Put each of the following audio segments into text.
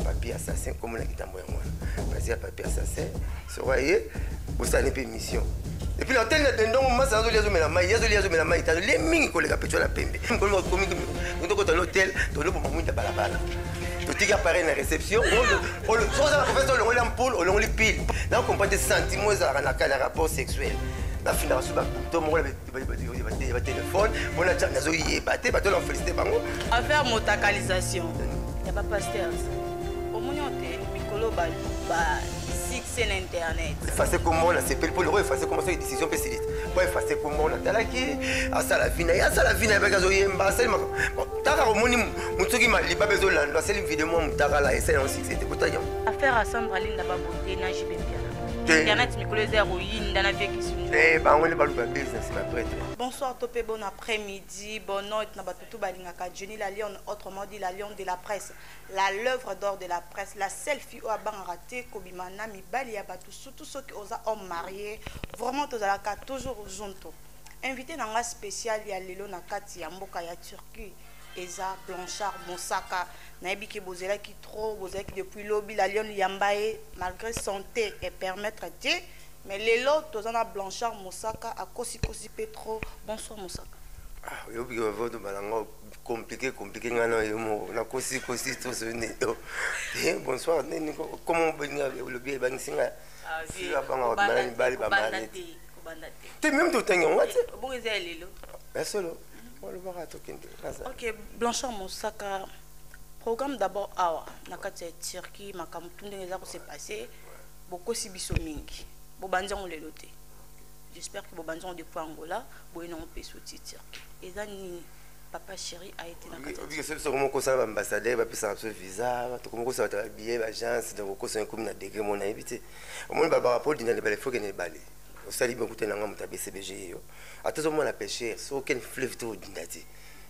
papier assassin kombo na kitambo yango wana basi ya papier assassin soka ye bosani mpe mission epuis na tele na dendongo masa azoli azomela mai ye azoli azomela mai tano lie mingi koleka peco na pembe komi tokota na hotel toloboma mwinda balabala totiki appareil na réception oza na professeur olongoli ya mpule olongoli pile nakokompa te sentiment ezalaka na rapport sexuel nafindaka so bato moko batelefone mpona tia nazoyeba te bato na felicite bango affaire motakalisation ya bapasteurs omoni yo te mikolo ba succès na internet efase kombo nasepeli mpo loko efase kombo soki décision mpe silite mpo efase kombo natalaki asala vina ye asala vina ye baki azoyemba asali makambo taka omoni motu soki maliba mpe ezolando asali video mwa motakala esali yango succès te kotaki yango affaire asandra linda babote na jibepia internet mikolo eza ya koyinda na vie kisunju eh, bango nde baluka business na prêtre bonsoir to mpe bon après midi bonne note na bato to balingaka jenny la lionne autrement dit la lionne de la presse la l'œuvre d'or de la presse la seule fille oyo abangaka te kobima na mibali ya bato surtout soki oza homme marié vraiment tozalaka toujours zonto invité na nga spécial ya lelo na kati ya mboka ya turquie eza Blanchard Mosaka nayebi ke bozelaki trop bozalaki depuis lobi la lionne yambaye malgré santé et permettre te mais lelo toza na Blanchard Mosaka akosi kosi pe trop bonsoir Mosaka ah oyobi ke bavoto balanga compliqué compliqué nga na yo moko nakosi kosi tozoni yo eh, bonsoir nini koma obenga olobi ebangisi nga ah, sila banga bamala mibali bamani te meme totangi yango te ya solo ok blanchard mosaka programme d'abord awa na kati ya turquie makambo tu ndenge eza kose passe bokosi biso mingi bobanzi yango lelo te j'espère que bobanzi yango depuis angola boye nango mpe soti turquie eza nini papa chéri a été nakokosa baambassadeur bapesaka biso visa tokomokosa bato babillet baagence donc okosa ekomi na degre mona yebi te omoni babaka mpo odinda na ebale fokende ebale osali bien kuta na nga moto ya bcbg yo ata ozomona pêcheur soki okende fleuve te odinda te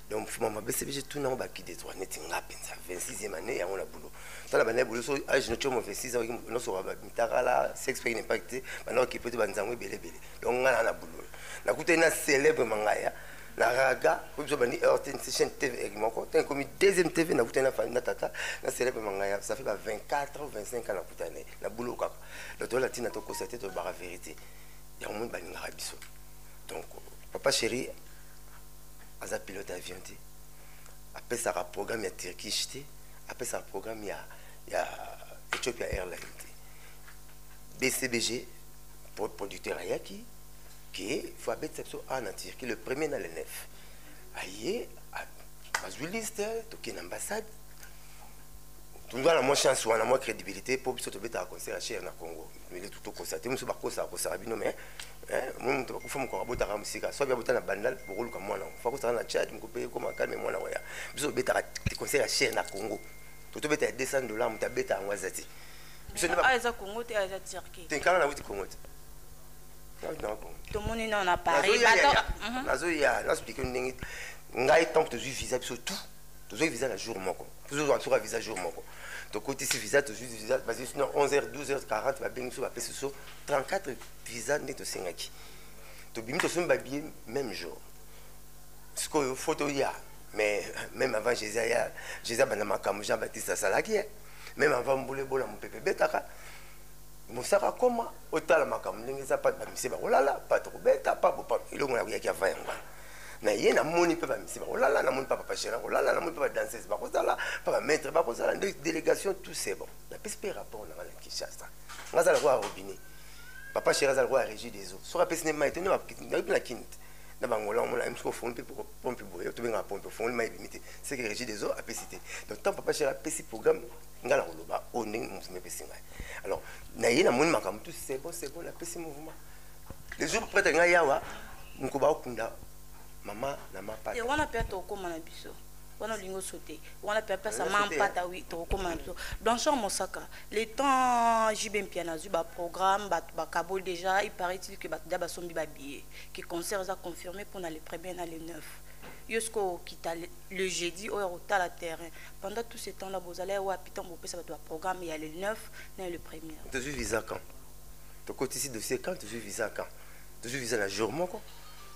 donc mama bcbg tuna yango baki de droit neti nga mpenza 26e année yango na boulot tala banda boulot so age no tiomo 26 ans nosoka bamitakala sex pek n'impact te banda okipe te banzango ebele ebele donc nga na na boulot nakutani na célèbre mangaya na raga oyo biso bandi heure te nse chaîne tv eg moko ntango ekomi deuxième tv nakutani na fani na tata na célèbre mangaya ça fait ba 24 25 ans nakutani na boulot kaka donc toyela ntina tokosa te tolobaka verité yango moni balingaka biso donc papa chéri aza pilote avion te apesaka programme ya turkish te apesaka programme ya, ya ethiopia airline te bcbg producteur ayaki ke fo abetisa biso a na turquie le premier na le 9 aye bazwi liste tokende ambassade tunga na mwa chance wana mwa crédibilité mpo biso tobetaka concert ya chere na congo militu tokosa te mosusu bakosaka kosaka bino mais eh, moi moto bakufa mokoko abotaka mosika soki abota na bandal bokoluka mwana yango fakosaka na tchad mokope ekoma kalme mwana waya biso tobetaka concert ya chere na congo to tobeta ya 200 dollar moto abeta yango aza te biso nde ah, eza congo te ah, eza turquie te nkanga nauti congo te tomoni nao na paris nazoya nazoplike ndenge ngai ntango tozwi visa biso tout tozwi visa na jour moko Toujours en tout cas visa jour moko. Donc côté ici visa tout juste visa parce que sinon 11h 12h40 ba bengi so ba pesi so 34 visa nde to sengaki. To bimi to somba billet même jour. Ce que photo ya mais même avant Jésus ya Jésus bana makambo Jean Baptiste asalaki hein. Même avant boule bola mon pepe betaka mosaka koma otala makambo ndenge eza pa bamise bakolala pa tokobeta pa bopa elongo nakoyaki avant yango wana na ye namoni mpe bamisi bakolala namoni mpe papa gérant kolala namoni mpe badanseuse bakozala mpe bamaître bakozala nde délégation tout c'est bon napesi mpe rapport na ngai na kinshasa nga aza lokola robinet papa chéri aza lokola régie des eaux soki apesi nde mai te ndeayoki na kini te na bangola omona misuku ofongoli mpe pompe boye tobengaka pompe ofongoli mai ebimi te seke régie des eaux apesi te donc ntango papa chéri apesi programme ngai nakoloba oyo ndenge mouvement epesi ngai alors na ye namoni makambo tout c'est bon c'est bon napesi mouvement le jour prêtre nga yawa nko ba okunda mama na mapa et wana pe to koma na biso wana olingi osote wana pe apesa ma mpata wi tokokoma na biso blanchard mosaka le temps jb mpiana azwi baprogramme bato bakaboli déjà il paraît il que bato da basombi babillet que concert eza confirmé mpona le premier na le 9 yo sikoyo okita le jeudi oyo akotala terrain pendant tout ce temps là bozala ya wapi ntango bopesa bato baprogramme ya le 9 na le premier tozwi visa quand tokotisi dossier quand tozwi visa quand tozwi visa na jour moko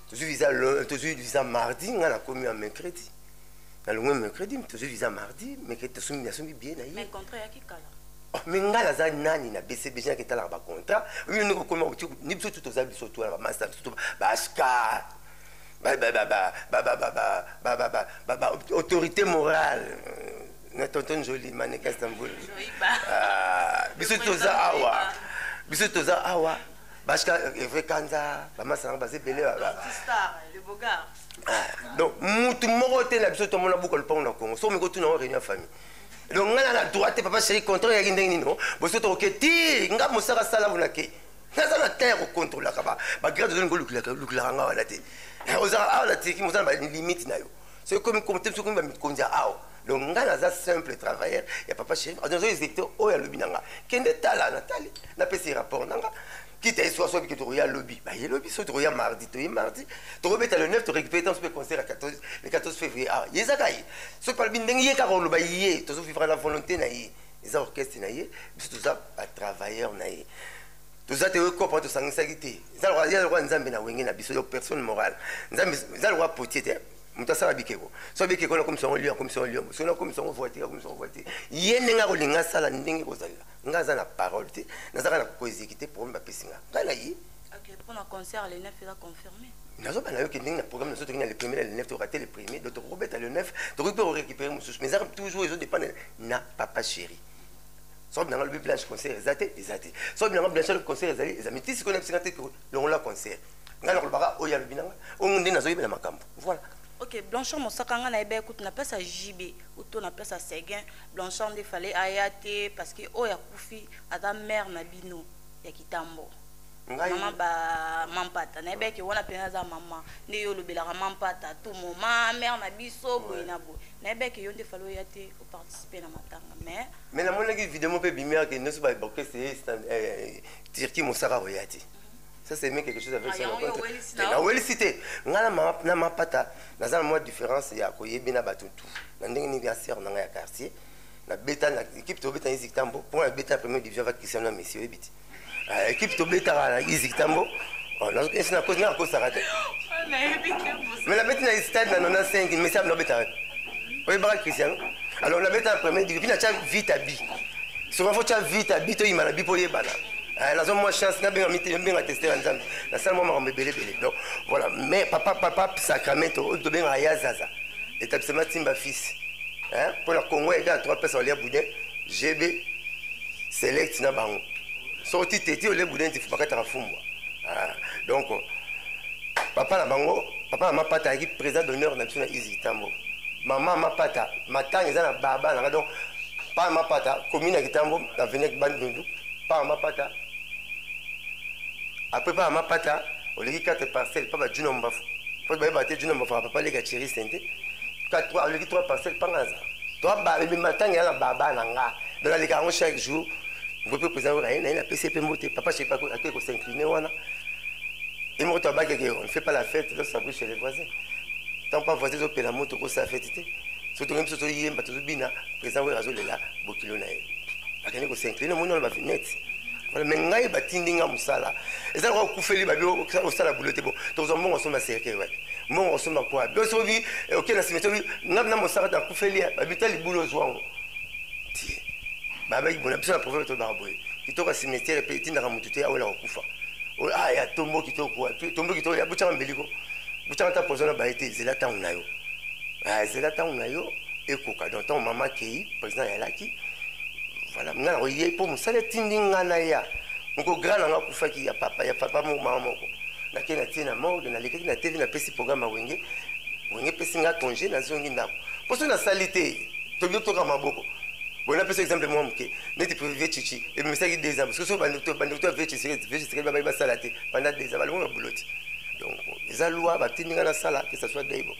tozwi visa tozwi visa mardi ngai nakomi ya mercredi nalongwe mercredi tozwi visa mardi mercredi tosombi nasombi bie na ye mais oh, ngai naza nani na bcbg naki etalaka bacontrat oyo ndenge okoma ni biso tu toza biso tu wana bamasta biso tu baskar autorité morale na tonton njoli maneka istanbul ah, biso toza awa biso toza awa bashika evre eh, kanza bamasa nango baza ebele ah, donc mutu moko te na biso tomona buka lopango na congo soki omeki otuna yango réunion ya famille donc ngai na na droite papa chéri contraire yaki ndenge nini boso tokoke ti ngai mosaka asala kuna ke naza na temps ya kocontrolaka bagrade ozo ningo lukilakangaa wana te eh, ozaka awa na tiki moza na balimite na yo soki komi compte soki komi bamikonzi ya awa donc ngai naza simple travailleur ya papa chef nazo exécuté oyo alobi na nga kende tala natali napesi rapport na nga kita ye soki asoki ke tokoya lobi baye lobi soki tokoya mardi toye mardi tokobeta le 9 torécupéré ntango sope concert ya 14 le 14 février awa ye ezaka ye soki palobi ndenge ye kaka oloba ye tozovivra na volonté na ye eza orchestre na ye biso toza batravailleur na ye toza te okopa tosangisaki te eza lokola nzambe na wenge na biso yo personne morale nzambe eza lokola potier te moto asala bikeko so bikeko nakomisa yango lio akomisa yango lio so nakomisa yango voiture akomisa yango voiture ye ndenge akolinga asala ndenge kozalela ngai aza na parole te nazaka na koexekite problème bapesi nga ngai na ye mpona concert le 9 eza confirme nazoba na yo ke ndenge na programme nazo toki na le premier na le 9 toka te le premier donc tokokobeta le 9 tokoki mpe korécupere mosusu mais ezaka toujours ezodépendre na papa chéri soki bilanga lobi blanche concert eza te eza te soki bilanga blanche lobi concert ezali eza miti sikoyo na bisinga te longola concert ngai nakolobaka oyo alobi nanga oyo nde nazoyebela makambo voilà ok blanchard mosaka ngai nayebaki kutu na place ya jb uto na place ya seguin blanchard nde fale aya te parce que oyo akufi aza mare na bino ya kitambo mama bamampata nayebaki wana mpenza aza mama nde yo olobelaka mampata tout moment mare na biso boye na boye nayebaki yo nde fale oya te participer na matanga mais mais namonaki video moko mpe ebimi ake nyonso baorchestre ye turquie mosaka koya te ça c'est même quelque chose avec ça nawelisi te ngai na mapata naza na mwa différence ya koyebi na bato tout na ndenge nini ya sere na ngai ya quartier nabeta na équipe tobeta eziktambo mpo nabeta ya première division va christiano ya messi oyebi te Eh, ekipe tobetaka na izi kitambo oh, nazokesi na kosi nakosaka te me nabeti na stade na 95 mesi abino abetaka oyebaka christiano alors nabeta na premier divi mpi natya vite abi soki fo tya vite abi toyima na bi mpo oyebana eh, naza mwa chance nabenga teste ya nzambe nasala mwa makambo ebelebele donc voilà mais papa papa sacramento oyo tobengaka ya zaza établissement timba fils mpo na congo ya ega na 3 pesa walia boudin gb select na bango soki ti teti ole budenti bakataka fumbwa ah, donc papa na bango papa na mapata ayaki président d'honneur na biso na izi kitambo mama mapata matanga eza na baba nanga donc pa mapata commune ya kitambo na venec bandundu pa mapata apres pa mapata oleki 4 parcelle pa bajuna mbafu po bayeba te juna mbafu papa leka cheri sente oleki 3 parcelle pa ngaza to abambi matanga eza na baba na nga donc aleka yango chaque jour ngo mpe président oyo naye napesi ye mpe mbote papa chepe akoki kosincline wana ye moko to abakeke on ne fait pas la fête donc ça brille chez les voisins tant pas voisin ezopela moto kosala fête te soki tongai biso toyemba tozobina président oyo azolela bokilo na ye akende kosincline omoni wana bafinete wana me ngai batindi ngai mosala eza lokola okufeli babi osala bulo te bo tokozwa mbongo osomba cercueil wapi mbongo osomba kwa biso bi eh, okei na simetiere bi ngai na mosaka te akufeli babi ta libulu ozwango ti babaki bona biso na prophète tolobaka boye kitoko ya cimetière mpe etindaka motu te awela kokufa oyo a ah, ya tombo kitoko tombo kitoko ya botyaka mbeliko botyaka ata poison na baye te zela ntango na yo ah, zela ntango na yo ekoka donc ntango mama akei président yalaki voilà nga nakoye mpo mosala etindi nga naya moko grand nanga akufaki ya papa ya papa moko mama moko nake natie na morgue nalekaki na tv napesi programme ya wenge wenge epesi nga congé nazongi ndako mpo soki nasali te tolingi toyoka maboko boye napesa exemple mwa moke neti prive chichi ebimisaki deux ans parce que bandeko to ya vie chisekedi babai basala te banda deux ans balongo na buloti donc eza lwa batindi ngai nasala que ça soit daibo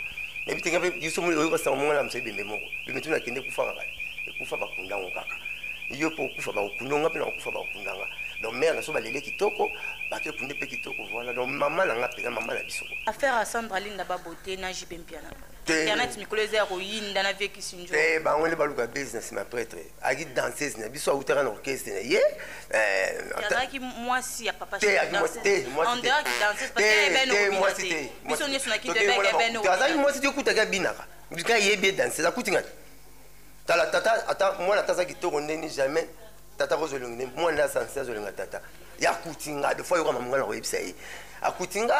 nayebi te ngai biso moli oyoka sango mongana mosa ebembe moko bembe tuna kende ekufaka kaka ekufa bakunda ngo kaka yo mpo okufa bakokunda nga mpe na kokufa bakokunda nga donc mare na so balele kitoko bake kunde mpe kitoko voilà donc mama na nga mpenza mama na biso affaire ya sandra linda babote na jibe mpiana internet mikolo eza ya koyinda na vie kisinjo te bango nde baluka business ma prêtre aki danseuse na biso awutaka na orchestre na ye azalaki eh, mwasi ya papa biso nyonso na kinteazalaki mwasi te okutaki abinaka bika yebi ye danseuse akuti ngani tala tata ata mwana ata aza kitoko ndeni jamais tata akozwa elongi nde mwana nde asanse azolinga tata ye akuti nga de fois yoka mamonga na koyebisa ye akuti nga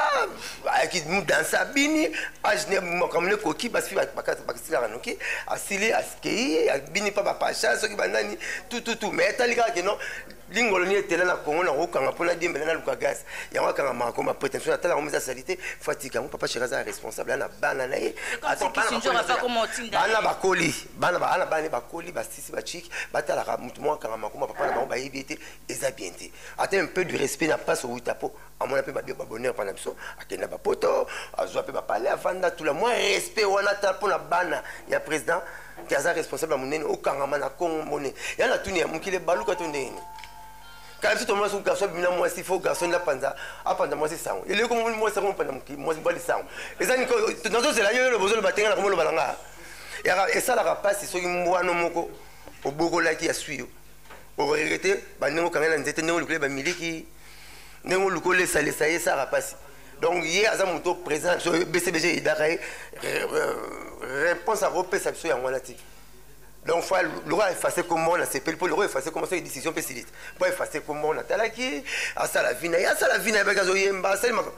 ayaki danse abini agene makambo nekoki basi basilaka noki asili akei abini mpa bapasha soki banani tututu mai etali kaka keno lingolo ni etela na kongo na kokanga mpo nadiembela naluka gaz yango akanga mako ma prétention atala yango eza salite fo atika yango papa sheka aza responsable ana bana na ye bana bakoli bana bana bakoli si ba chic batalaka mutu moko akanga makoma papa na bango bayebi ye te eza bien te ata un peu du respect na mpasi owuta mpo amona mpe babia babonheur mpa na biso akenda bapoto azwa mpe bapale avanda tula mwa respect wana ata mpo na bana ya président te aza responsable ya monene okangama na kongo mbone ya na tuni ya mokili ebaluka to ndenge kala biso tomona soki garçon abimina mwasi fo garçon nde apanza apanza mwasi sango eleko mwasi yango mopanda mwasi mobali sango eza nazozela yo yo lobozo loba tenga na komoloba na ngaa yaka esalaka mpasi soki mbwano moko obokolaki ya swi yo okoyeke te bandenge okanga na nzete ndenge olukoli bamiliki ndenge oluki olesalesa ye esalaka mpasi donc ye aza moto présent na biso bcbg eyidaka ye réponse akopesa biso yango wana ti donc fa lokola efase kombo na sepeli mpo lokola efase kombo soki décision mpe silite mpo efase kombo natalaki asala vi na ye asala vi na ye baki azoyemba asali makambo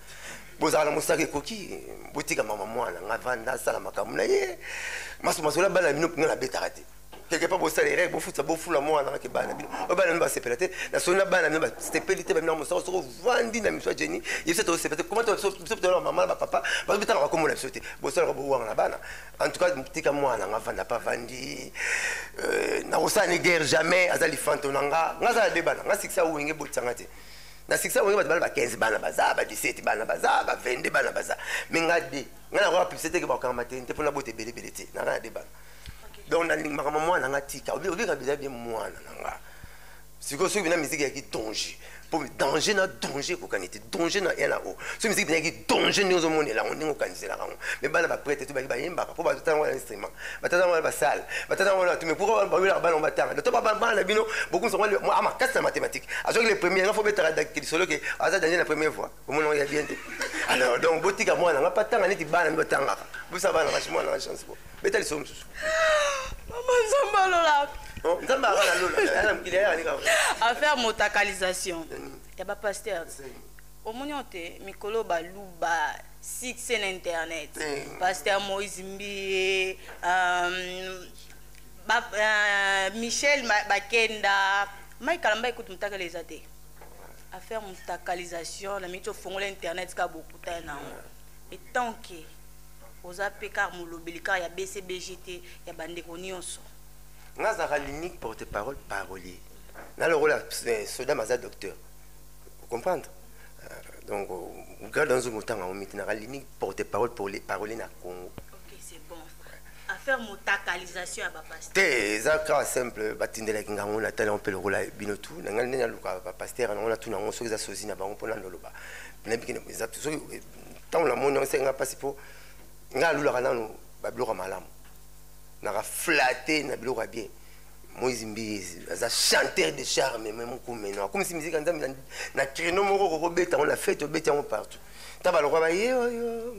bozala na mosaka ekoki botika mama mwana nga vanda asala makambo na ye maso masola bana na bino mpenga nabetaka te quelque part bosala erreur bofuta bofula mwana naki bana bino oyo bana bino basepela te na soni na bana bino basepeli te bamina mosala soki ovandi na miso ya jeni ye biso tosepela te koma biso tolala mama na bapapa bazobetaka bakombo na biso te bosalaka bowanga na bana en tout cas tika mwana nga vanda pa vandi euh, nakosala ni guerre jamais aza lifanto na nga nga azala de bana nga sikisa wenge botisanga te na sikisa oyo bato bana ba 15 bana baza ba 17 bana baza ba 22 bana baza me nga de nga nakoka publicité teke bakokanga mateni te mpo na bota ebelebele te na nga na de bana donc nalingi makambo mwana nga tika obika biza bie mwana na nga sikoyo soki bina miziki yaki danger mpo danger na danger ekokani te danger na ena o soki miziki bina yaki danger ndenge ozomonela yango ndenge okaniselaka yango me bana baprete to baki bayembaka mpo bazotango ya instrument batata wana basala batata wana batu mais pourquoi bawelaka bana batanga doto bana bino bokumisa mwa mwa makasi na mathématique azwaki le premier nga fo betaka lisolo ke aza danger na premier voix omona oya bien te alors donc botika mwana nga patanga neti bana mi batangaka bosa bana kasi mwana na chance bo beta lisolo mosusu mama nzambe alola oh, nzambe akala lola ana mokili ayaka nika affaire motakalisation ya bapasteur Omoni oyo te mikolo oyo baluba succès na internet pasteur moise mbiye euh, michel bakenda mai kalamba ekutu mutakala eza te affaire mutakalisation na miti ofongola internet ka bokuta nango etant ke oza mpe kar molobeli kar ya bcbg te ya bandeko nyonso nazaka l'unique porte parole parolier nalokola eh, soda maza docteur Comprendre? Euh, donc, garde dans un temps, on met dans la limite porte-parole pour les paroles na Congo. Ok, c'est bon. Affaire motakalisation ya bapasteur. Te, eza kaka simple, batindelaki ngango na tala mpe lokola bino tu, na ngai nde naluka bapasteur yango na tu nango soki eza sozi na bango mpo na ndoloba. Nayebi kende eza soki ntango namoni yango esenga mpasi mpo ngai alulaka nano babiloko ya malamu naka flate na biloko ya bien moise mbiye aza chanteur de charme me mokumeno akumisi miziki ya nzambe na créneau moko okokobeta yango na fete obeti yango partout ta balokwa bayeoyo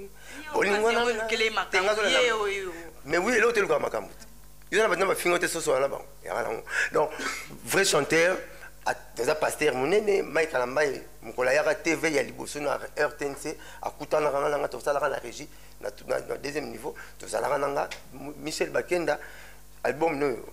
bolingonaaoyo mais oui eloko te elukaka makambo te yo na bato na bafingo te soso wana bango yaka nango donc vrai chanteur aza paster monene mike alambai mokolo ayaka tv ya liboso na rtnc akutanaka nga na nga tosalaka na régie na deuxième niveau tozalaka na nga michel bakenda album noyo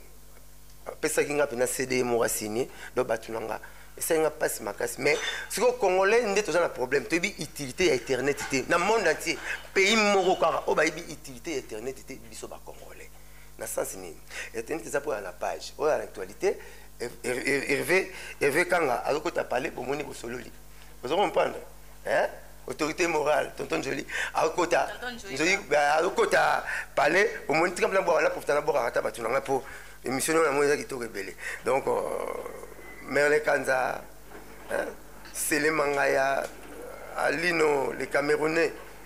apesaki nga mpena cd moko asigne donc bato na nga esali nga mpasi makasi mais sikoyo congolais nde toza na problème toyebi utilité ya internet te na monde entier pays moko kaka oyo bayebi utilité ya internet te biso bacongolais na sens nini internet eza mpoya na page oyo ya actualité herve kanga azokota pale bomoni bosololi ozo comprendre hein autorité morale tonton joli akota joli akota palais omoni tika mpena bwaka na profita na bwakaka ata bato na ngai mpo émission nao yango eza kitoko ebele donc euh, merle kanza sele mangaya alino le camerounais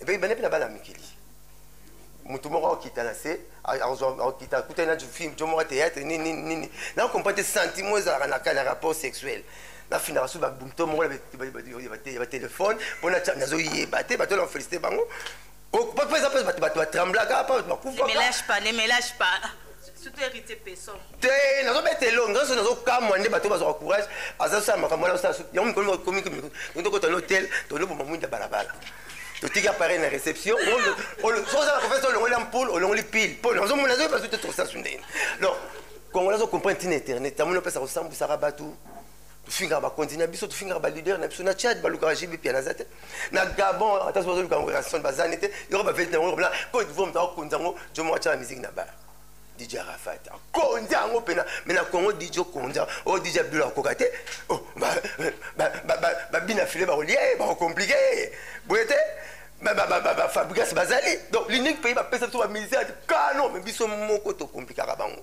epe ebanda mpe na bana mikili motu moko akokita na se akokita akutani na film jo moko théâtre nini nini na comprend te sentiment ezalaka na rapport sexuel nafindaka so babumto moko ya batelefone mpo nazoyeba te bato na felicite bango mpo eza mpe bato batremblaka mpo bato bakufa surtout héritier peson te nazobeta elongi nazo nazokamwa nde bato bazwaka courage aza sala makambo wana osala suki yango mikolo komi tokota na hotel toloboma mwinda balabala totiki appareil na réception ozala kofesa olongoli ya mpule olongoli pile mpo nazomona nazoyi bazo te tosasu ndeni donc kongola azo comprendre ntina internet amoni opesa kosambwisaka bato tofingaka bakonzi na biso tofingaka balider na biso na tchad balukaka jb pia naza te na gabon ata so bazoluka yango rason bazani te yoko bavelite yango yokobla cote divoir moto akokonza yango jomo atya na miziki na baya dj arafat akonzi yango mpena me na congo dj okonza o oh, dj abdula akoka te oh, babina file bakolia ye bakokomplike ye boye te bafabrigas bazali donc l'unique pays bapesa biso bamusicien kano me biso moko tokomplikaka bango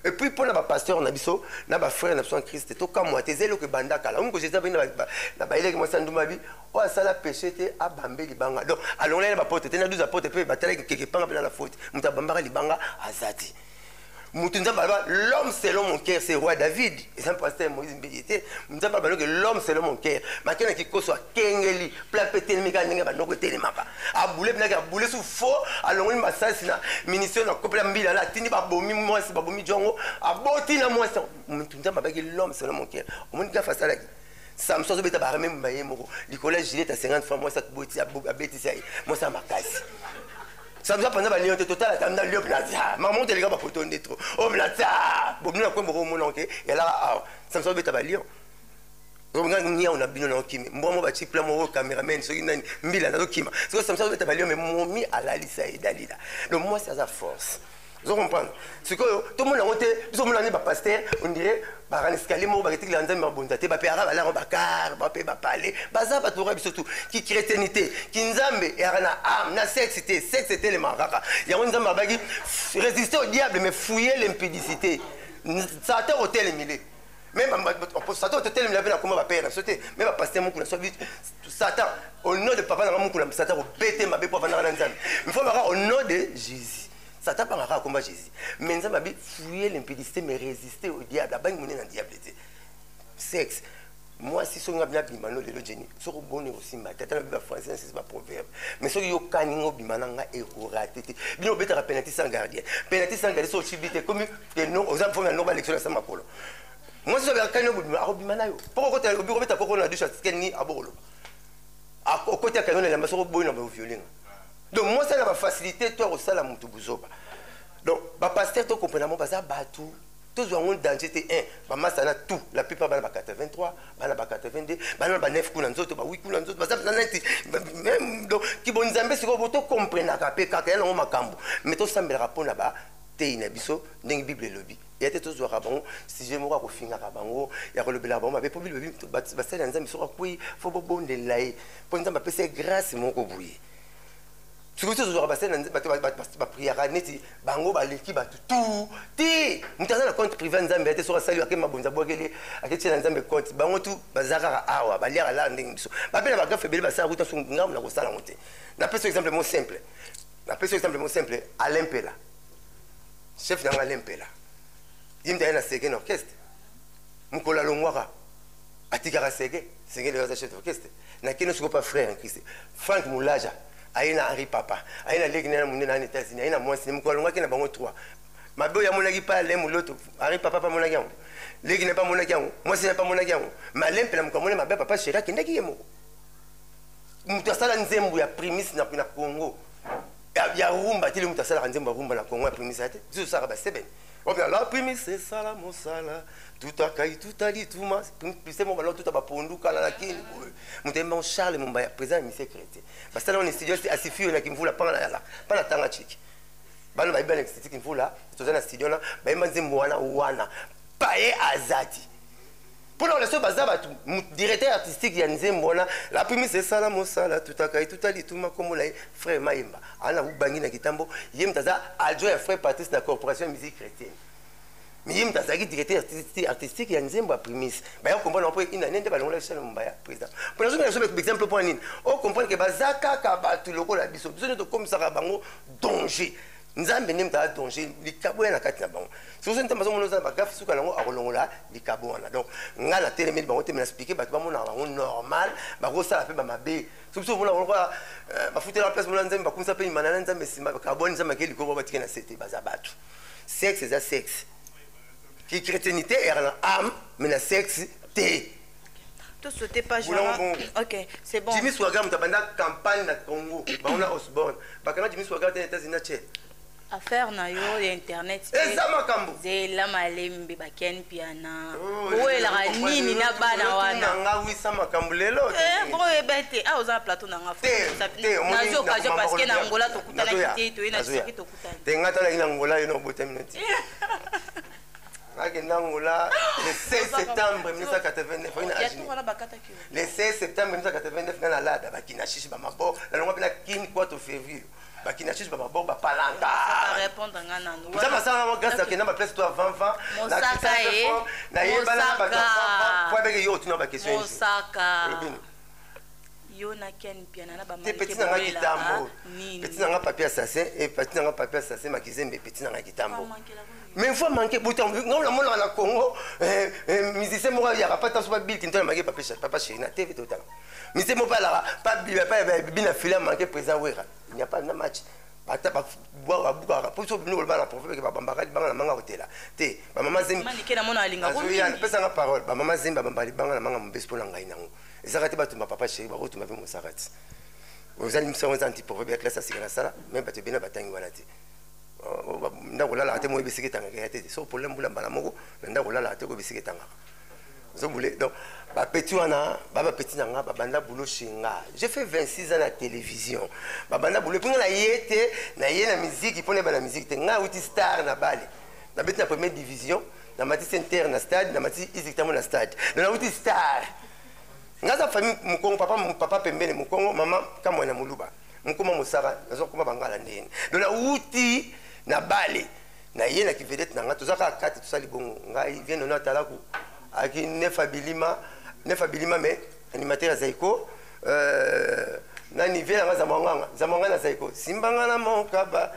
et puis mpo na bapasteur na biso na bafrère na biso na kriste tokamwa te eza eloko ebanda kala omiko jesus abei na bayelaki mwasi andumabi oyo asala péché te abambe libanga donc alongolaki na bapote te na 12 apote mpe batalaki keke epanga mpe na na faute moto abambaka libanga aza te moto nzambe alaba l'homme selon mon cœur c'est roi david eza mpasi ya moïse mbeye te nzambe abaloke l'homme selon mon cœur maki na kikoso akengeli pla mpe etelemi kaka ndenge bandoko etelemaka abule mpenaki abule su fo alongoli masasi na ministre na kopela mbila na atindi babomi mwasi babomi jongo aboti na mwasi motu nzambe abaki l'homme selon mon cœur omoni gafa asalaki samson azobeta baremembu na ye moko likolo ya gilet ya 50 franc mwasi atoboti abetisi ya ye mwasi ya makasi samson apanza balion te totala tamina lio plaza mamonte eleka bapoto nde tro o oh, plaza bobino na kwe moko omona oke yalaka awa samson azobeta balion nga niao na bino naokimi mbwa mo batie pla moko cameraman soki nani mbila nazokima soki samson azobeta balion me momi alalisa ye dalila lo mwasi aza force ozo comprendre sikoyo tomona yango te biso omona nde bapaster ondire baraneskali moko baketikela nzambe babonza te bape aka balango bakar bape bapale baza bato lokola biso tu kichrétienité kinzambe eyaka na ame na sexe te sexe etelemaka kaka yango nzambe abaki résister au diable mais fouille l'impudicité satan otelemile me satan otelemile mpe nakoma bapere na biso te me bapaster moku na so satan au nom de papa nanga moku na satan kobete mabe mpo avandaka na nzambe mifo baka au nom de jésus Satan abanga kaka komba Jesus. Mais Nzambe abi fouiller l'impudicité mais résister au diable. Abangi monene na diable te. Sexe. Moi si songa bina bima no lelo Jenny. Soko boni osimba tata na biba français c'est pas proverbe. Mais soki yo kani ngo bima na nga e ko rater te. Bino beta ka penalty sans gardien. Penalty sans gardien so chibite comme que non aux enfants na normal élection na sama kolo. Moi si soki kani ngo bima ako bima na yo. Poko kota obi ko beta poko na douche atskeni abolo. Ako kota kani na lamba soko boni na ba violer. donc mwasi na ba facilité to akosala mutu buzoba donc ba pasteur to comprendre mo baza batu tozwa yango danger te 1 bamasa na tout la plupart bana ba 83 bana ba 82 bana ba 9 kuna nzoto ba 8 kuna nzoto baza mpenza neti meme donc kibonzambe sikoyo bo tokomprenaka mpe kaka ya nango makambo mais tosambelaka mpo na ba teyi na biso ndenge bible elobi ya te tozwaka bango sujet moko akofingaka bango ya kolobelaka bango mabe mpo bible elobi basali ya nzambe soki akwei fo bobondela ye mpo nzambe apesa ye grâce moko boye soki biso tozwaka basali na nzambe bato bapriaka neti bango baleki bato tu te moto aza na compte privé ya nzambe ate soki asali ake mabonza bwakeli aketia na nzambe compte bango tu baza kaka awa baliaka laa ndenge biso bape na bagafe ebele basala kuta so ngambo na kosala yango te napesi exemple mo simple napesi exemple mo simple alain mpela chef na yango alain mpela ye mta ye na sege na orchestre mokolo alongwaka atikaka sege sege leo aza chef d'orchestre na kino sikoyo pa frère en christ frank mulaja aye na henri papa aye na leki naye na monene na états-unis aye na mwasi ne mokolo alongaki na bango 3 mabe oyo amonaki pa alain moloto henri papa pamonaki yango leki naye pamonaki yango mwasi naye pamonaki yango ma alain mpela mokolo amoni mabe papa sheri akendaki ye moko moto asala nzembo ya primise na congo ya rumba te le moto asalaka nzembo ya rumba na congo ya primise ya te biso tosalaka basebene Obe la primi se sala mosala tuta kai tuta lituma pise mo balo tuta bapondu kala na kini boye mutembe mon Charles Mumbaya président ya mise crété basala on studio si asifiwe na kimvula panga na yala pala tanga chiki bana bayiba na kisiti kimvula toza na studio na bayimba nzembo wana wana paye azati mpo na kolesa baza bato directeur artistique ya nzembo wana lapimise esala mosala tutaka ye tuta lituma nkombo na ye frère mayemba ana ubangi na kitambo ye moto aza adjoint ya frère patrice na corporation ya musique chrétienne mais ye moto azalaki directeur artistique ya nzembo ya primise baya comprendre mpo ina nende balongola biso na mombaya président mpo nazoki na biso exemple mpo na nini o comprendre ke baza kaka bato lokola biso biso nde tokomisaka bango danger nzambe nde moto adonge likabo ya na kati na bango soki nzambe azomona oza na bagafe suka na yango akolongola likabo wana donc ngai natelemeli bango te me nasplike bato bamonaka bango normal bakosala mpe bamabe soki biso omona bango kaka euh, bafutela place mona nzambe bakumisa mpe imana na nzambe nsima bakabwani nzambe ake likabo batike na sete baza bato sexe eza sexe ki chrétienité ere na ame me na sexe te To sauter page Boulon wana. bongo. Ok, c'est bon. jimmy swaga moto abanda campagne na congo bango na osborne bakanga jimmy swaga te na états-unis na che affaire na yo ya internet eza makambo zela malembe baken piana owelaka nini na bana wana nga wisa makambo lelo Eh, bongo oyeba ete awa oza na plateau na nga fo- sa- te, omoni nazwi occasion nakomama parceke na koloba. angola tokutanaki Nazoya, te toye na nazoya. sisaki tokutani te nga talaki na ngola yo na obotami na ti akenda angola le 16 septembre 1989 le 16 septembre 1989 nga na lada bakina shishi bamabo nalongwa mpe na kin kwato fervure bakina susu bamaboko bapalanga oza masala nango grâce akenda baplace to avant vent nayebana na bato po abeke yo otuna baquestion yo na ken mpiana na bamapeti na nga kitambo peti na nga papier assassin e peti na nga papier assassin makizembe peti na nga kitambo mais voix manque buta ngai namonaka na congo eh, eh, musicien moko ayaka pa tanso babil kinto na manke papa chéri na tv totala musicien moko alaka bina fila manke président wera il n'y a pas na match ata babukaka mpo so bino koloba na profe peke babambaka libanga na manga kotela te bamama zembipesanga parole bamama zembi babamba libanga na manga mobesi mpo na ngai nango ezaka te batumba papa sheri bakotuma mpe mosakati ozali misango eza antiprofe bia classe ya sika nasala me bato ebena batangi wana te ndako olalaka te moi bisika etangaka ya te so problème bula mbala moko na ndako olalaka te oyo bisika etangaka ozobule donc bapeti wana ba bapeti na nga babanda bulo chez nga j'ai fait 26 ans na télévision babanda bulo epuis nga na ye te na ye na miziki mpo nayeba na miziki te nga auti star na bale nabeti na première division na mati center na stade na mati isiktamo na stade donc nauti star nga aza famille mokongo papa, papa pembele mokongo mama kamwana moluba mokoma mosaka naza kokoma bangala ndeni do nauti na bale na ye na kivedete na ngai toza kaka kati tosali bongo ngai viene ono atalaku aki nefa bilima nefa bilima me animateur ya zaiko euh, na nive yanga zamwanganga zamwanga na zaiko simbanga na mokaba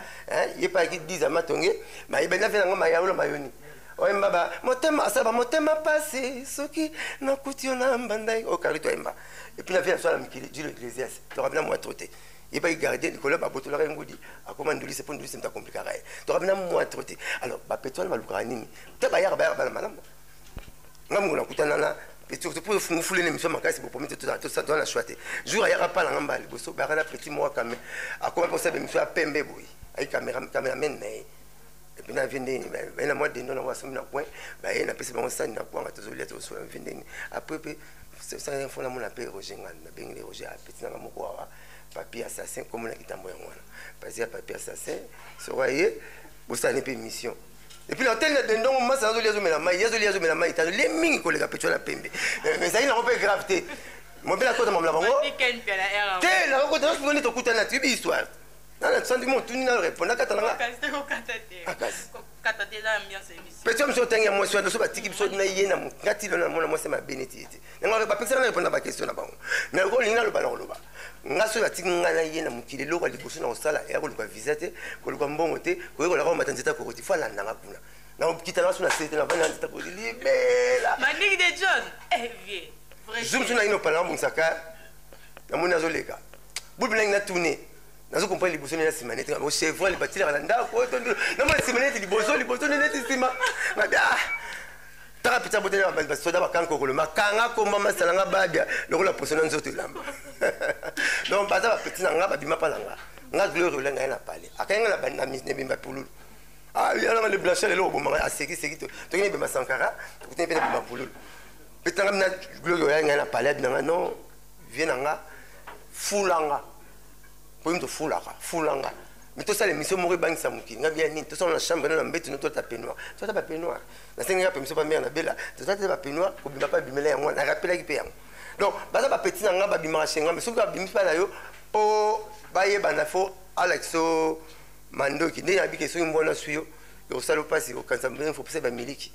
ye mpe ayaki diza matonge mayebani na ve nanga mayaolo mayoni oyemba ba motema asala ba motema pasi soki nakuti yo na mbandai oyo karito ayemba et puis la vie asala mikili dilo ecclesias toka bina mwa trote yebaki gardien likolo ya babotolaka ye ngudi akoma ndulise mpo ndulise moto akomplikaka ye toka bina mwa trote alors bapeto wana balukaka nini te bayaka bayaka bana malamu nga mongo nakutana na peto mpo ofungufule na emission makasi bopomi te tozala na choix te jour ayaka mpa na nga mbala liboso bayaka na petit moko kame akoma mpo osala emission ya pembe boye ayi cameramen na ye epuis na vie ndenge baye na mwa dendo nango asomi na coin baye napesi bango sani na kwanga tozolia tozosola vie ndenge apres mpe sasa fo namona mpe roger ngani nabengeli roger apeti nanga moko awa papier assassin komona kitambo yango wana pasi ya papier assassin soko aye bosani mpe mission epuis na hotele na dendongo masi azolia azomela mai ye azolia azomela mai te azolie mingi koleka petua na pembe eh, ezali nango mpe grave te mobele akota mamla bango te nakokota nde tokutani na tiyebi histoire nana sandi mo otuni nano reponda kata na nga peti biso otangi ya mwasi wana biso batiki biso na ye na ngati lona namona mwasi mabe neti ye te yango bapekisa nga reponda bakestion na bango mais lokola olingi naloba na koloba nga soki batiki nga na ye na mokili eloko ya liboso na kosala eya koluka visa te koluka mbongo te koyekola kaka mata nzeta kokoti fo alanda nga kuna nakokita na so na sete na bana nzeta kokoti libela zoom so na ino pala nabongisaka namoni azoleka bobi nangi na tune nazo comprendre liboso nde na nsima nete o chevron le batilaka na ndako oyo tondo na mwa nsima nete liboso liboso nde neti nsima nabi ah taka pita bote na basoda bakanga kokolo makanga komba masala nga babia lokola poso na nzoto elamba donc baza bapeti na nga babima mpa na nga nga gloire ola ngai na pale akangi nga na nebemba pululu ah, alanga le blanchel eloko bomanga asekiseki toki nebemba sankara tokutani mpe na bemba pululu peti na nga bina gloire ola ngai na pale abina nga non vie na nga fula nga mpo yini tofulaka fula nga mi tosala émission moko ebangisa mokili nga bia nini tosala na chambre na mbetu no tota penoir tota ba penoir nasengi nga permission pa mare na bela tota te ba penoir kobima pa bimela yango wana narapelaki mpe yango donc baza bapeti na nga babimaka chez nga me soki babimi mpa na yo mpo bayebana fo alakisa o mandoki ndenge nabike soki mbona swi yo ekosala mpasi okanisa mbenge fo pesa bamiliki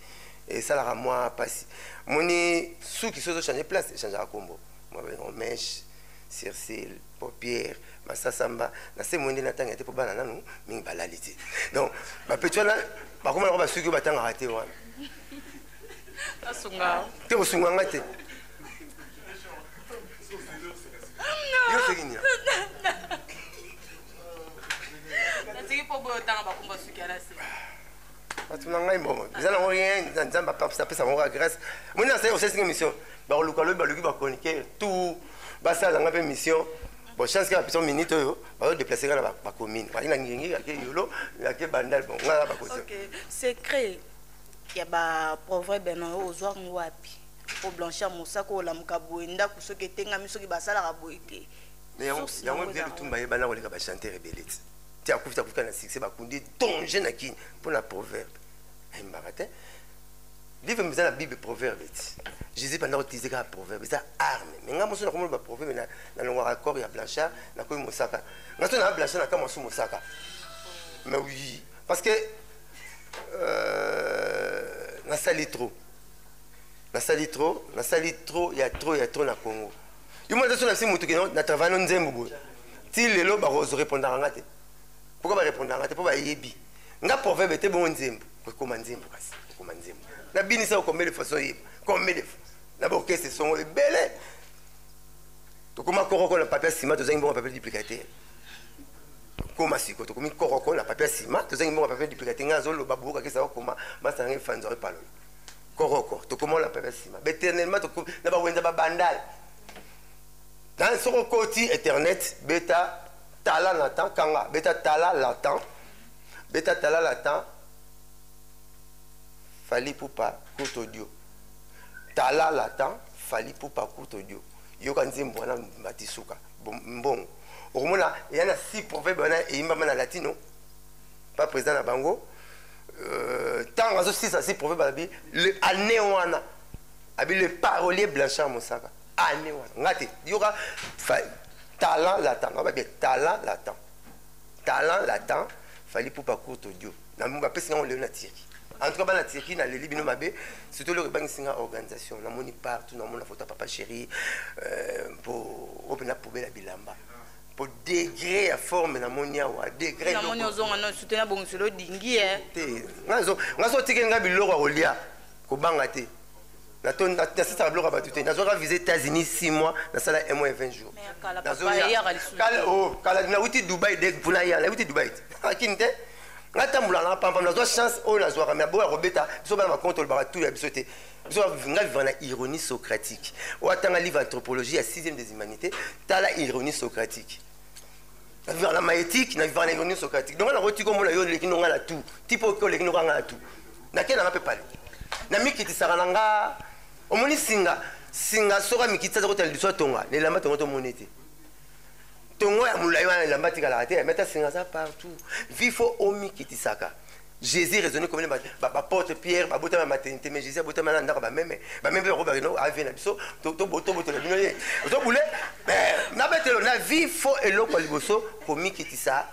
esalaka mwa pasi moni suki sozo change place echangaka kombo mwa babengo meshe circile popiere masasamba na se moyende na tanga te mpo bana nanu mingi balali te donc bapeti wana bakomana ko basuki oyo batangaka te wana te kosunga nga te yo soki nia natiki mpo boyo otanga bakomba suki ala se bato na ngai mbongo eza nango rien nzambe apesa bango kaka grâce moni nasali osesinga émission bakoluka lobi baluki bachroniqueur tout basala ngai mpe mission bon chance kaka biso minute oyo bazo déplacer kaka na bacommune baki na ngengi ake yolo ake bandal bon ngai bakozo secret ya baproverbe na yo ozwa yango wapi mpo blanchir mosaka olamuka boye ndako soki etengami soki basalaka boye te yango mpe lutumba ye bana koleka bachanteur ebele ti ti akufi akufi na succès bakundi danger na kin mpo na proverbe ayembaka te livre meza na bible proverbe ti jésus banda koutilize kaka proverbe eza arme me ngai mosu nakomona baproverbe nalongwaka corps ya blanchard nakomi mosaka ngai so naa blanchard na kamwa su mosaka mais oui parce que euh, nasali trop nasali trop nasali trop ya trop ya trop na congo yo mwana taso na nsi motu kino na travail no nzembo boye ti lelo bakorepondaka nga te pourkoi barepondaka nga te mpo bayebi nga proverbe te bongo nzembo ekoma nzembo kasi ekoma nzembo nabinisa yo combien de fois soyeba combien de fois na baorkestre songo ebele tokoma koroko na papier nsima tozangi bongo papier duplika te koma siko tokomi koroko na papier nsima tozangi bongo papier duplika te ngai azoloba boyokakisa okoma masana ngai fanzo epalola koroko tokomona mpe nsima beternellement na bawenza babandai na soko koti internet beta tala na temps kanga beta tala la temps beta tala la temps fali pupa court audio tala la temps fali pupa court audio yoka nzembo wana matisuka mbongo okomona eya na si proverbe wana eyimbama na latino ba président na bango euh, ntango azosisa si proverbe alobi le année wana abi le parolier blanchard mosaka année wana nga te yoka talent latent nga babe talent latent talent latent fali pupa courte audio na bapesi ngango lelo na tiri en tout cas bana tiki naleli bino mabe surtout eloko ebangisi nga organisation namoni partout namona foto ya papa chéri mpo euh, oyo mpe na poubele ya bilamba po degre ya forme na moni awa degre na moni ozonga no sute na bongiselo odingi ye eh. te nga so otikeli nga biloko ya kolia kobanga te nasisaka biloko ya bato te nazwaka visa états-unis 6 mois nasala 1 mois et 20 jours oh, kala nauti dubai de mpona ya nauti dubai te akini te natambolaka na pampa nazwa chance oyo nazwaka me aboya kobeta biso bana makonto olobaka tu ya biso te biso nga viva na ironie socratique oyo atanga livre anthropologie ya 6e des humanités tala ironie socratique na viva na maéthique na viva na ironie socratique donc nakoti komona yo oleki nonga na tout ti mpo oke oleki nonga nga na tout nakendanga mpe pale namikitisaka na nga omoni singa singa soki amikitisa za kotala liso atonga na elamba tongo tomoni te tongo ya molai wana elamba tikalaka te meta singa aza partout vi fo omikitisaka jésus raisonne comme baporte pierre babotama maternité mais jésus abotama na ndako bameme bameme mpe bakobaka no avie na biso tobotola bino ye ozobule na betelo na vi fo eloko ya liboso komikitisa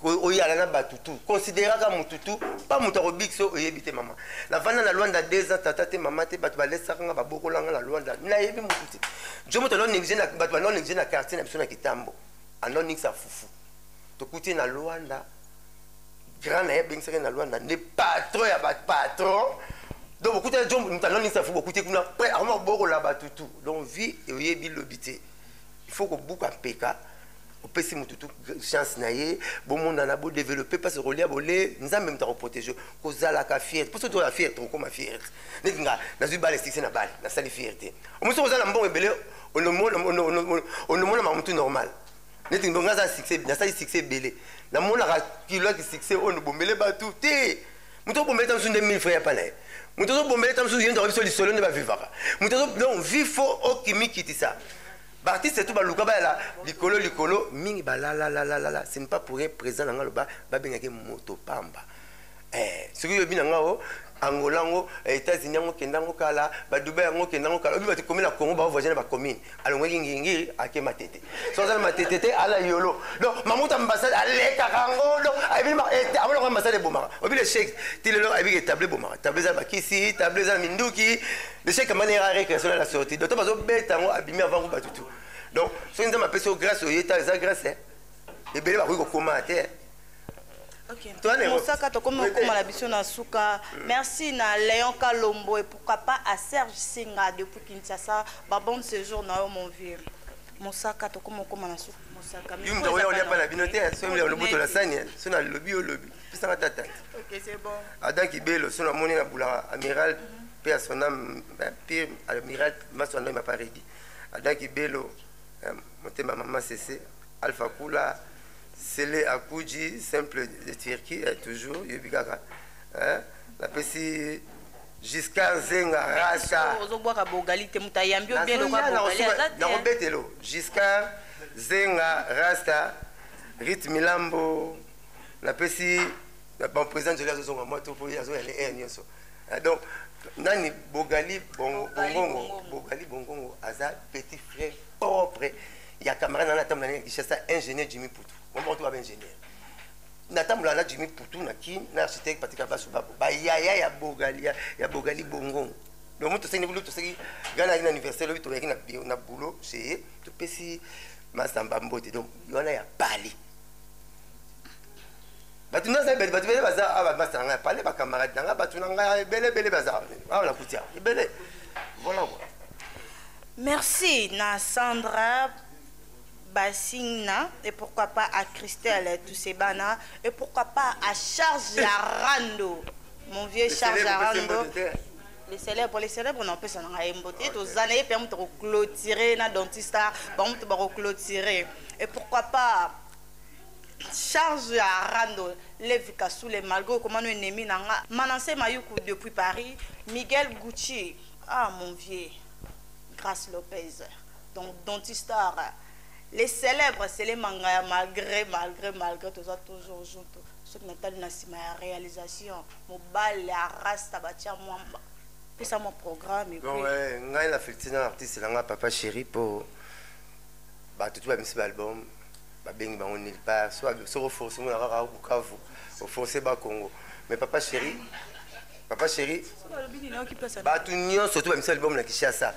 oyala na bato tu consideraka motu tu mpa moto akobikisa oyebi te mama navanda na lwanda deux ans tata te mama te bato balesaka nga babokolanga na lwanda nayebi motu te jo moto anoneglige na bato banoneglige na quartier na biso na kitambo anonigisa fufu tokuti na lwanda grand na ye abengisaki na lwanda nde patron ya bapatron donc bokuti jo moto anonigisa fufu bokuti kuna pre akoma kobokola bato tu donc vie oyebi lobi te il faut kobuka mpeka opesi motu tu chance na ye bomonana bodeveloppe mpasi okolia bole nzambe moto akoprotege kozalaka fiere mposo toza fiere tokokoma fiere neti nga nazwi bale sikise na bale nasali fiere te omosi kozala mbongo ebele onomona mamutu normal neti nga aza succès nasali succès ebele namonaka kiloki succès oyo bombele bato te moto obombeleta mosusu nde 1000 frais ya pana ye moto ozobombeleta mosusu ye ndoka biso lisolo nde bavivaka moto donc vi fo okimikitisa baartiste tu baluka bayala likolo likolo mingi balalalalala ce n'est pas pour rien président na nga loba babengaki moto pamba eh, soki oyebi na nga o angola yango eh, états-unis yango kenda yango kala badubai yango kenda yango kala oyebi bato komi na congo baovoisine bacommune alongwaki ngingiri ake matete so azali matete te ala yolo donc mamuta ambasade alekaka yango donc amonaka eh, ambasade ebomaka obi lechec ti lelo ayebiki table ebomaka table eza na bakisi table eza na minduki lechec amanera récréation na la sortie donc to bazobeta yango abimi avant ko batutu donc soki nzambe apesi yo grâce oyeta eza grâce eh. ebele bakoki kokoma te eh. Okay. mosaka tokomi kokoma na biso na suka merci na léon kalombo et pourquoi pas à serge singa depuis kinshasa babonne séjour na yo mon vieux mosaka tokomi kokoma na suka mosaka yo moto oya olia mpa na bino te so loboto na sani so na lobi yo lobi pisaka tata adam kibelo so namoni na bulaka amiral mpe ya son ame mpe amiral maso andoi maparedi adam kibelo motema mama sese Alpha Kula, Sele Akuji, simple de Turquie, eh, toujours, yebi kaka. Eh, napesi Giscard Zenga Rasta. Ozobwaka bogali te, muta yambi obien lokwa bogali azate. Nakobetelo, Giscard Zenga Rasta, Rit Milambo, napesi, bon, président Jolie azozonga mwa to, po azoya le air nyonso. Eh, donc, nani bogali bongongo bogali bongongo aza petit frère propre ya camarade nana atambola ndenge kinshasa ingénieur jimi putu bomoko to baba ingénieur natambola na jimi putu na kin na architecte patika baso babo bayaya ya bogali ya bogali bongo donc moto osengi bulu toseki gana ali na université lobi toyaki na boulot chez ye topesi masamba mbote donc wana ya pali bato nyonso ebele bato ebele baza awa bamasta na ngai ya pale bacamarade na ngai bato na ngai ebele ebele baza awa na kuti awa ebele voilà quoi merci na sandra basingna et pourquoi pas à christelle tusebana et pourquoi pas à charge ya rando mon vieux charge ya rando les célèbres les célèbres na opesa na ngai mbote ye toza na ye mpe moto akoclotire na dentista bango moto bakoclotire et pourquoi pas Charge ya Rando, Levi Kasule malgre okomano ennemi na nga, Manasse Mayuku depuis Paris, Miguel Gucci ah mon vieux, Grace Lopez donc Dontistar, le celèbre Cele Mangaya malgre malgre malgre toza toujours junto soki na tali na sima ya realisation mobali ya rasta batia mwamba pesa mwa programme Non, epuis eh, ngai na Fifty na artiste na ngai Papa Chéri po bato tu bamisi ba album babengi bango nulle part soki oforce mona kaka bukavu oforce ba congo mais papa chéri papa chéri bato nyonso to bamisa libomo na kinshasa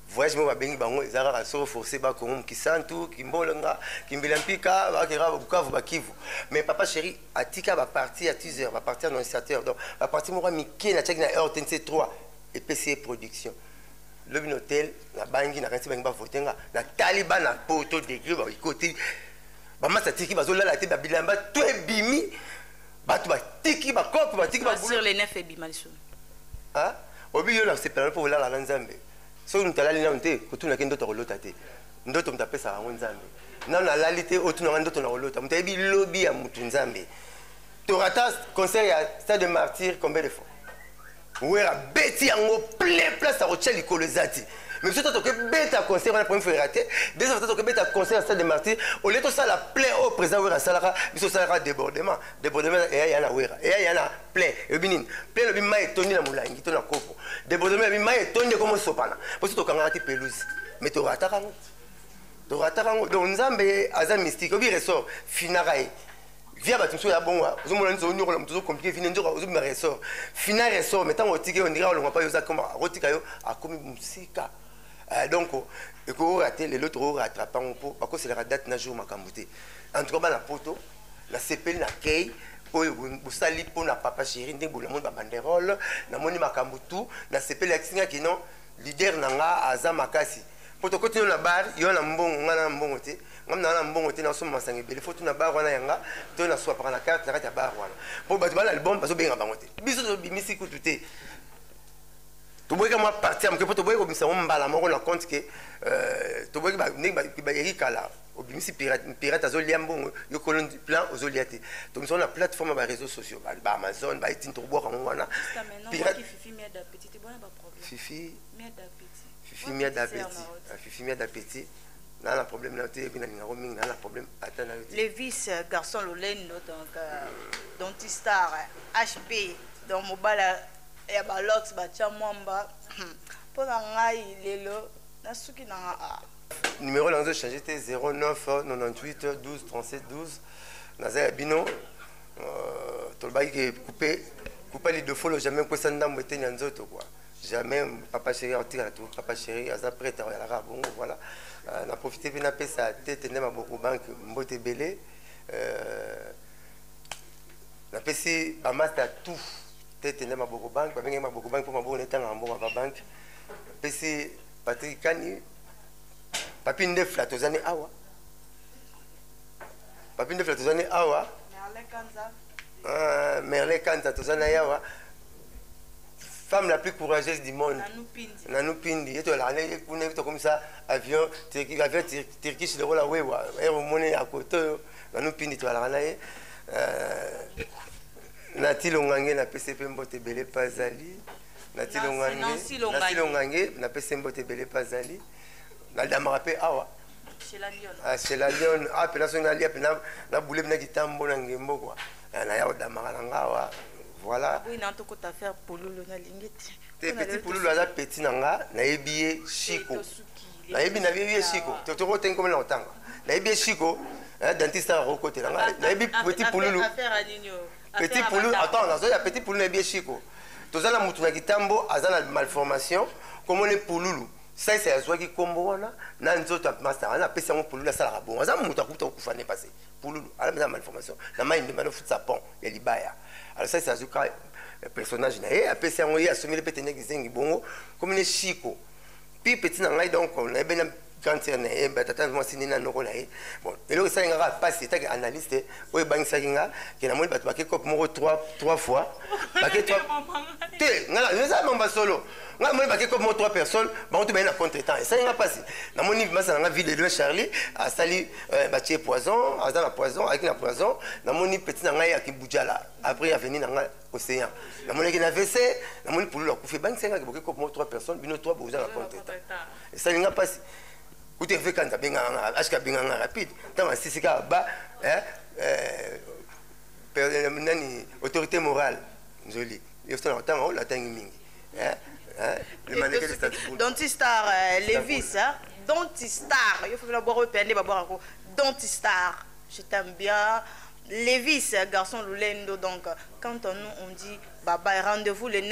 voyage moko babengi bango eza kaka soki oforce ba congo mokisantu kimbolonga kimbila mpika bakeka bukavu bakivu mais papa chéri atika baparti ya teaser baparti ya nonciateur donc baparti moko ya mike natiaki na rtnc 3 epesi ye production lobi na hotel nabangi nakanisi bangi bavote nga natali bana poto degre baikoti bamasa tiki bazolala te babilamba to ebimi bato batiki bakope batiki obi yo nasepela mpo olala na nzambe soki moto alali nano te kotunaki ndoto akolota te ndoto moto apesaka yango nzambe nano alali te otunanga ndoto nakolota moto ayebi lobi ya motu nzambe torata concert ya stade de martyr combien de fois werra abeti yango plein place ya kotya likolo eza te mais biso to tokebeta concert wana premier ferra te deuxième to tokebeta concert ya stade de martyr olie tosala plein oyo président werra asalaka biso osalaka débordement débordement eya ya na werra eya ya na plein elobi nini plein elobi mai etondi na molangi to na kopo débordement elobi mai etondi ekomosopana mpo so tokangaka te pelouse mais torataka yango torataka yango donc nzambe aza mystique obi ressort finaka ye via bato mosusu ya bongo ozomona nini ozonyokola moto ozokomplike vine nzoka ozobima ressort fina ressort mai ntango otiki yo ndika olongwa mpa yo ozakoma akotika yo akomi mosika eh, donc ekoora te lelo tokorattrape yango mpo bakoselaka date na jour makambo te en tout cas bana poto nasepeli na kei oyo bosali mpo na papa chéri ndenge bonamoni babanderole namoni makambo tu nasepeli akisingaki non leader na nga aza makasi mpo tokoti yo na bar yo na mbongo nga na mbongo te ngam naa na mbongo te nasomba masanga ebele fo tuna bar wana yanga to naswapaka na carte na kati ya bar wana mpo bato bana album bazobenga bango te biso tobimisi kutu te toboyika mwa parti ya moke mpo toboyiki kobimisa yango mbala moko na compte ke euh, toboyiki ndenge bayeki kala obimisi pirate azolia mbongo yo kolo plan ozolia te tobimisa yango na plateforme ya bareseau sociaux baamazon baetini tokobwaka yango wana pirate fifi fifi mia d'appétit ah, fifi mia d'appétit naa na problème nayo te yebi nalingako mingi naa na problème ata nayo te levis euh, garçon lolendo donc euh, dontistar hp euh, donc mobala ya balox batya mwamba mpo na ngai lelo nasuki na nga ah. numéro na nga ezochange te 09 98 12 37 12 naza ya bino tolobaki ke coupe coupe lidofolo jamais kosa ndambo eteni ya nzoto quoi jamais papa chéri akotikala tu papa chéri aza prêtre oyalaka bongo voilà euh, na profite mpe napesa tete nde maboko banke mbote ebele euh, napesi bamasta tout tete nde maboko banke babengaki maboko banke mpo maboko netangaka mbongo ava banke napesi patrik kani papi ndefla tozani awa papi ndefela toza ne awa ah, merle kanza toza na ye awa femme la plus courageuse du monde nanou pindi ye tolaka ne kuna ye tokomisa avion avion turkish lokola wewa ere omoni ya kote oyo nanou pindi tolaka na ye euh, nati longange napesi mpe mbote ebele mpe azali nati longange napesi mbote ebele mpe azali nadamaka mpe awa sela lion ah, ape na soki nalia mpe na bule mpe na kitambo na ngembo kua eh, naya kodamaka na nga awa voilà te petit pululu aza petit na nga nayebi ye shiko nayebi nayebi ye shiko tokotengi komela kotanga nayebi ye shiko eh, dentiste aya kokotela nga nayebi petit pululu petit pululu attends nazoya petit pululu nayebi ye shiko toza na motu na kitambo aza na malformation komona pululu Saisai azuaki kombo wana na nzoto ya masta wana apesi yango pululu asalaka bongo aza moto akuta okufa nde pase pululu ala meza malformation na mai ndemba no futisa pont ya libaya alors saisai azwi ka eh, personnage na ye apesi yango ye asomeli mpe tendeki zengi bongo komi ne shiko pi petit na ngai donc nayebi na grande sœur na ye eh, batata mwasi nini na noko na ye bon eloko esali nga kaka mpasi etaki analyste oyo ebangisaki nga ke namoni bato bake cope moko 3 fois bake te nga eza mamba solo nga namoni bake kopi mo 3 personnes bango to baye na contre temps esali nga mpasi namoni masa na nga ville de loin charlie asali euh, batie poison aza na poison ayaki na poison namoni petit na ngai ya kibujala après aveni na nga océan namonaki na vc namoni pululu akufi ebangisa nga boke kopi mo 3 personnes bino 3 boza na contre temps esali nga mpasi kutu efe kanza abengaka nga ashka abengaka nga rapide ntango asisi kaka ba eh, eh, nani autorité morale nzoli Yefta na kotanga oyo natangi mingi. Eh? Eh? Le mannequin de Stade Boule. Dentistar euh, Levis, hein? Dentistar. Yo faut la boire au pende ba boire ko. Dentistar. Je t'aime bien. Levis, garçon Lulendo donc quand on nous on dit bye bye rendez-vous le 9